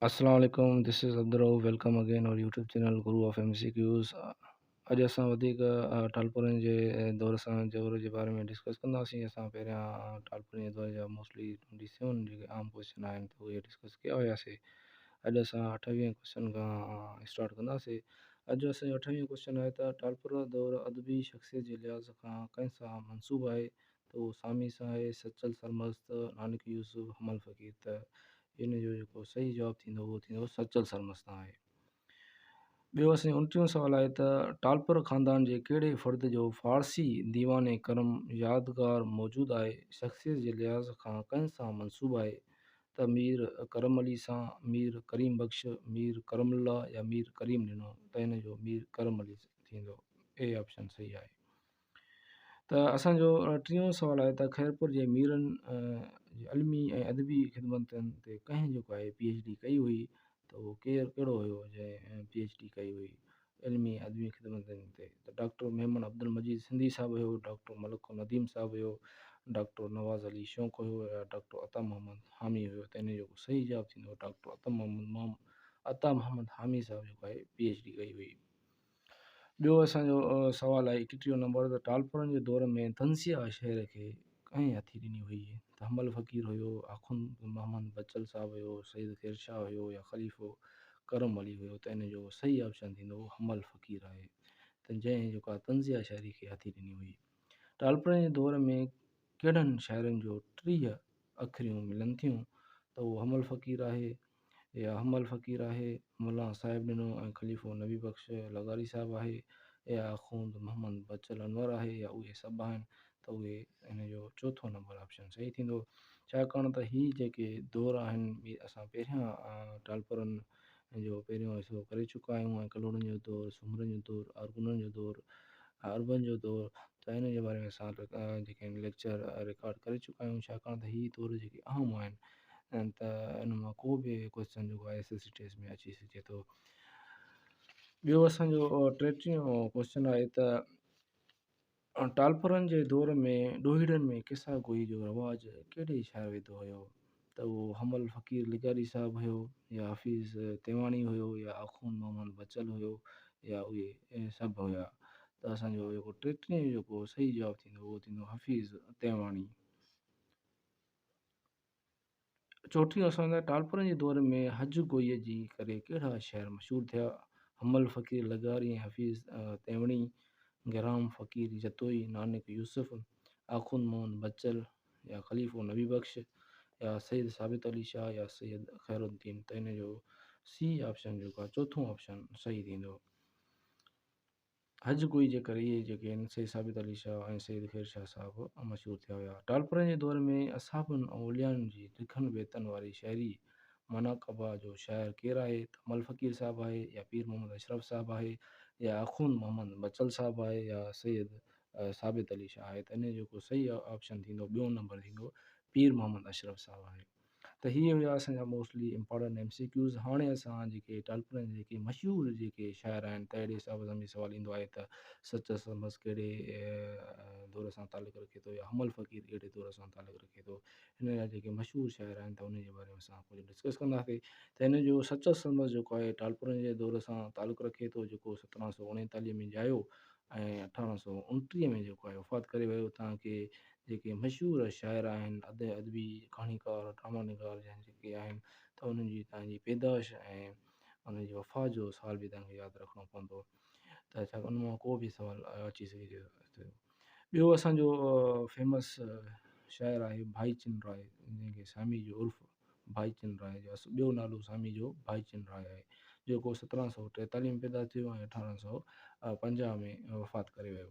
السلام عليڪم this is Abdul Rauf welcome again our YouTube channel Guru of M C Qs اڄ اسان وڌيڪ ٽالپرن جي دور سان دور جي باري ۾ ڊسڪس ڪنداسين اسان پهريان ٽالپرن جي دور جا موسٽلي ٽوئنٽي سيون جيڪي عام ڪوشچن آهن ته اهي ڊسڪس ڪيا هياسي اڄ اسان اٺويهن ڪوشچن کان اسٽارٽ ڪنداسي اڄ جو اسانجو اٺويهن ڪوشچن آهي ته ٽالپر دور ادبي شخصيت جي لحاظ کان ڪنهن سان منسوب آهي ته اهو سامي سان آهي سچل سرمست، نانڪ يوسف، حمل فقير ته ان جو جيڪو صحيح جواب ٿيندو اهو ٿيندو سچل سرمست تان آهي. ٻيو اسان جو انٽيهون سوال آهي ته ٽالپر خاندان جي ڪهڙي فرد جو فارسي ديوان ڪرم يادگار موجود آهي شخصيت جي لحاظ کان ڪنهن سان منسوب آهي ته مير ڪرم علي سان، مير ڪريم بخش، مير ڪرم الله يا مير ڪريم ڏنو ته ان جو مير ڪرم علي ٿيندو اي آپشن صحيح آهي. ته اسان جو ٽيون سوال آهي ته خيرپور جي ميرن علمي ۽ ادبي خدمتن تي ڪنهن جيڪو آهي پي ايڇ ڊي ڪئي هئي ته اهو ڪير ڪهڙو هيو جنهن پي ايڇ ڊي ڪئي هئي علمي ۽ ادبي خدمتن تي ته ڊاڪٽر ميمڻ عبدالمجيد سنڌي صاحب هيو ڊاڪٽر ملڪ النديم صاحب هيو ڊاڪٽر نواز علي شونق هيو يا ڊاڪٽر عطا محمد حامي هيو ته ان جو صحيح جواب ٿيندو ڊاڪٽر عطا محمد عطا محمد حامي صاحب جيڪو آهي پي ايڇ ڊي ڪئي هئي ٻيو اسان جو سوال آهي ايڪ ٽيهون نمبر ته ٽالپرن جي دور ۾ تنزيه شعر کي ڪنهن هٿي ڏني هئي ته حنبل فقير هيو آخوند محمد بچل صاحب هيو سيد خير شاهه هيو يا خليفو ڪرم علي هيو ته ان جو صحيح آپشن ٿيندو حنبل فقير آهي ته جنهن جيڪا تنزيه شاعري کي هٿي ڏني هئي ٽالپرن جي دور ۾ ڪهڙن شاعرن جو ٽيهه اکريون ملن ٿيون ته اهو حمل فقير آهي يا حمل فقير آهي، ملان صاحب ڏنو ۽ خليفو نبي بخش لغاري صاحب آهي يا آخوند محمد بچل انور آهي يا اهي سڀ آهن ته اهي هن جو چوٿون نمبر آپشن صحيح ٿيندو ڇاڪاڻ ته هي جيڪي دور آهن اهي اسان پهريان ٽالپرن ان جو پهريون حصو ڪري چڪا آهيون ۽ ڪلهوڙن جو دور، سومرن جو دور، ارغونن جو دور، عربن جو دور ته ان جي باري ۾ اسان جيڪي آهن ليڪچر رڪارڊ ڪري چڪا آهيون ڇاڪاڻ ته هي دور جيڪي اهم آهن ۽ ته ان مان ڪو به ڪوشچن جيڪو آهي ايس ايس سي ٽيسٽ ۾ اچي سگهي ٿو ٻيو اسانجو ٽيٽيهون ڪوشچن آهي ته ٽالپرن جي دور ۾ ڏوهيڙن ۾ قصا گوئي جو رواج ڪهڙي شاعر وڌو هيو ته اهو حمل فقير لغاري صاحب هيو يا حفيظ تيواڻي هيو يا آخوند محمد بچل هيو يا اهي سڀ هيا ته اسان جو جيڪو ٽيٽرينء جو جيڪو صحيح جواب ٿيندو اهو ٿيندو حفيظ تيواڻي. چوٽيون اسان لاء ٽالپرن جي دور ۾ حج گوئيء جي ڪري ڪهڙا شهر مشهور ٿيا، حمل فقير لغاري ۽ حفيظ تيوڻي، گرام فقير جتوئي، نانڪ يوسف، آخوند موهن بچل يا خليفو نبي بخش يا سيد ثابت علي شاهه يا سيد خير الدين ته ان جو سي آپشن جيڪو آهي چوٿون آپشن صحيح ٿيندو. هج گوئي جي ڪري ئي جيڪي آهن سيد ثابت علي شاهه ۽ سيد خير شاهه صاحب مشهور ٿيا ويا. ٽالپرن جي دور ۾ اصحابن ۽ اوليائن جي ڊگهن بيتن واري شاعري مناقبه جو شاعر ڪير آهي ته مل فقير صاحب آهي يا پير محمد اشرف صاحب آهي يا آخوند محمد بچل صاحب آهي يا سيد ثابت علي شاهه آهي ته انهي جو ڪو صحيح آپشن ٿيندو ٻيون نمبر ٿيندو پير محمد اشرف صاحب آهي. ته هي هيا اسان جا mostly important M C Qs هاڻي اسان جيڪي ٽالپرن جا جيڪي مشهور جيڪي شاعر آهن ته اهڙي حساب سان به سوال ايندو آهي ته سچ سمس ڪهڙي دور سان تعلق رکي ٿو يا حمل فقير ڪهڙي دور سان تعلق رکي ٿو هن جا جيڪي مشهور شاعر آهن ته ان جي باري ۾ اسان ڪجهه ڊسڪس ڪنداسين ته هن جو سچ سمس جيڪو آهي ٽالپرن جي دور سان تعلق رکي ٿو جيڪو سترهن سو اڻيتاليهه ۾ ڄايو ۽ اٺارهن سو انٽيهه ۾ جيڪو آهي وفات ڪري ويو تانڪي جيڪي مشهور شاعر آهن، ادئب، ادبي، ڪهاڻيڪار، ڊرامه نگار جا جيڪي آهن ته انهن جي تان جي پيدائش ۽ انهن جي وفات جو سال به تان کي ياد رکڻو پوندو ته ڇا ان مان ڪو به سوال اچي سگهي ٿو ٿيو. ٻيو اسان جو فيمس شاعر آهي ڀائي چن راء جنهن کي سامي جو عرف ڀائي چن راء جو اصل ٻيو نالو سامي جو ڀائي چن راء آهي جيڪو سترهن سؤ ٽيتاليهه ۾ پيدا ٿيو ۽ اٺارهن سؤ پنجاهه ۾ وفات ڪري ويو.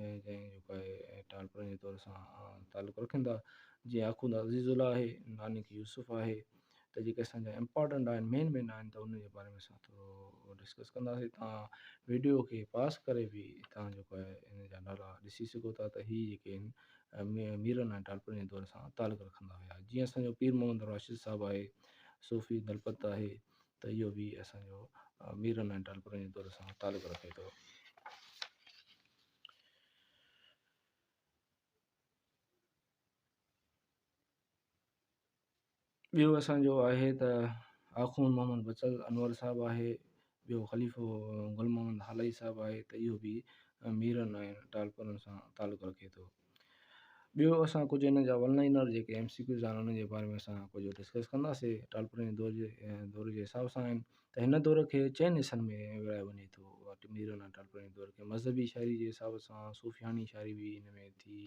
۽ جنهن جو ڪا اهي ٽالپرن جي دور سان تعلق رکن ٿا جيئن آخوند عزيز الله آهي نانڪ يوسف آهي ته جيڪي اسان جا امپارٽنٽ آهن مين مين آهن ته انهن جي باري ۾ اسان ٿورو ڊسڪس ڪنداسين تان ويڊيو کي پاس ڪري به تان جو ڪا ان جا نالا ڏسي سگهو ٿا ته هي جيڪي آهن ميرن ۽ ٽالپرن جي دور سان تعلق رکندا هيا جيئن اسان جو پير محمد راشد صاحب آهي صوفي دلپت آهي ته اهو به اسان جو ميرن ۽ ٽالپرن جي دور سان تعلق رکي ٿو. ٻيو اسان جو آهي ته آخوند محمد بچل انور صاحب آهي، ٻيو خليفو گل محمد هالائي صاحب آهي ته اهو به ميرن ۽ ٽالپرن سان تعلق رکي ٿو. ٻيو اسان ڪجهه ان جا ون لائنر جيڪي ايم سي ڪيوز آهن ان جي باري ۾ اسان ڪجهه ڊسڪس ڪنداسي ٽالپري جي دور جي دور جي حساب سان آهن ته هن دور کي چئن حصن ۾ ورهايو وڃي ٿو ٽنبيرن ۽ ٽالپري جي دور کي مذهبي شاعري جي حساب سان صوفياڻي شاعري بي ان ۾ ٿي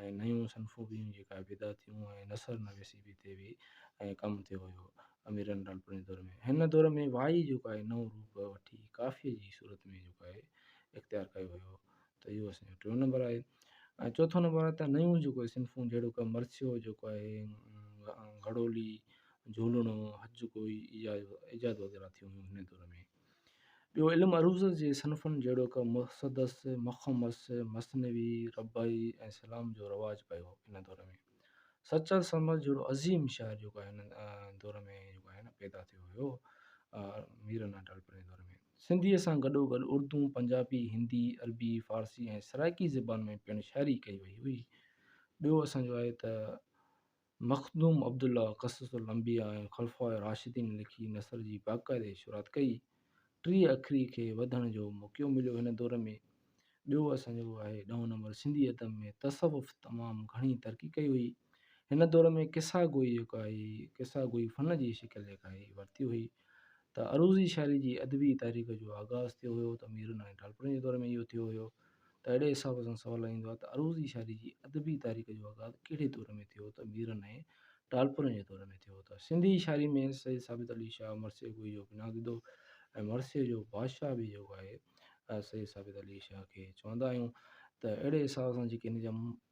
۽ نيون صنفون بي هن جي ڪا پيدا ٿيون ۽ نثر نويسي بي تي بي ۽ ڪم ٿيو هيو اميرن ٽالپري جي دور ۾ هن دور ۾ وائي جيڪو آهي نئون روپ وٺي ڪافي جي صورت ۾ جيڪو آهي اختيار ڪيو هيو ته اهو اسان جو ٽيون نمبر آهي ۽ چوٿون نمبر آهي ته نيون جيڪو آهي صنفون جهڙو ڪو مرثيو جيڪو آهي گهڙولي جهولڻو هٿ جو ڪوئي ايجاد ايجاد وغيره ٿيون هيون هن دور ۾ ٻيو علم عروض جي صنفن جهڙو ڪو مصدس مخمس مثنوي ربعي ۽ سلام جو رواج پيو هن دور ۾ سچل سمر جهڙو عظيم شاعر جيڪو آهي هن دور ۾ جيڪو آهي نه پيدا ٿيو هيو ميرن اٽالپر جي دور ۾ سنڌيء سان گڏوگڏ اردو، پنجابي، هندي، عربي، فارسي ۽ سرائڪي زبان ۾ پڻ شاعري ڪئي وئي هئي. ٻيو اسان جو آهي ته مخدوم عبدالله قصص الانبياء ۽ خلفاء راشدين لکي نثر جي باقاعدي شروعات ڪئي. ٽيهه اکري کي وڌڻ جو موقعو مليو هن دور ۾. ٻيو اسان جو اهو آهي ڏهون نمبر سنڌي ادب ۾ تصوف تمام گهڻي ترقي ڪئي هئي هن دور ۾ قصا گوئي جيڪا آهي قصا گوئي فن جي شڪل جيڪا آهي ورتي هئي ته عروضي شاعري جي ادبي تاريخ جو آغاز ٿيو هيو ته ميرن ۽ ٽالپرن جي دور ۾ اهو ٿيو هيو ته اهڙي حساب سان سوال ايندو آهي ته عروضي شاعري جي ادبي تاريخ جو آغاز ڪهڙي دور ۾ ٿيو ته ميرن ۽ ٽالپرن جي دور ۾ ٿيو ته سنڌي شاعري ۾ سيد ثابت علي شاهه مرثيه گوئي جو بنياد وڌو ۽ مرثيه جو بادشاهه به جيڪو آهي سيد ثابت علي شاهه کي چوندا آهيون ته اهڙي حساب سان جيڪي هن جا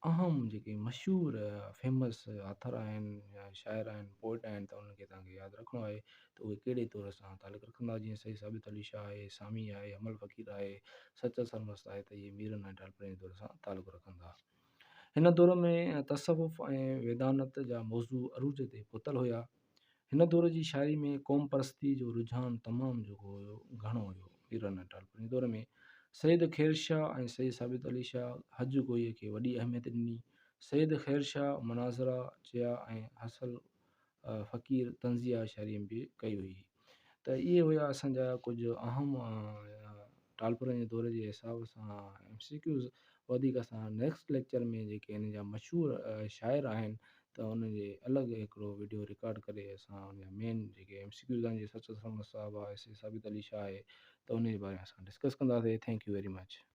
اهم جيڪي مشهور فيمس آٿر آهن يا شاعر آهن پوئٽ آهن ته انهن کي تنهن کي ياد رکڻو آهي ته اهي ڪهڙي طور سان تعلق رکندا جيئن سيد ثابت علي شاهه آهي سامي آهي حمل فقير آهي سچل سرمست آهي ته اهي ميرن ۽ ٽالپرن جي دور سان تعلق رکندا هن دور ۾ تصوف ۽ ويدانت جا موضوع عروج تي پهتل هيا هن دور جي شاعري ۾ قوم پرستي جو رجحان تمام جيڪو هيو گهڻو هيو. پيرن ۽ ٽالپرن دور ۾ سيد خير شاهه ۽ سيد ثابت علي شاهه حج گوئيء کي وڏي اهميت ڏني. سيد خير شاهه مناظرا چيا ۽ حصل فقير طنزيه شاعري به ڪئي هئي. ته اهي هيا اسان جا ڪجهه اهم ٽالپرن جي دور جي حساب سان ايم سي ڪيوز وڌيڪ اسان نيڪسٽ ليڪچر ۾ جيڪي ان جا مشهور شاعر آهن ته ان جي الڳ هڪڙو وڊيو رڪارڊ ڪري اسان ان جا مين جيڪي ايم سي ڪيوز آهن جيئن سچل سرمست صاحب آهي سي ثابت علي شاهه آهي ته ان جي باري ۾ اسان ڊسڪس ڪنداسين ٿينڪ يو ويري مچ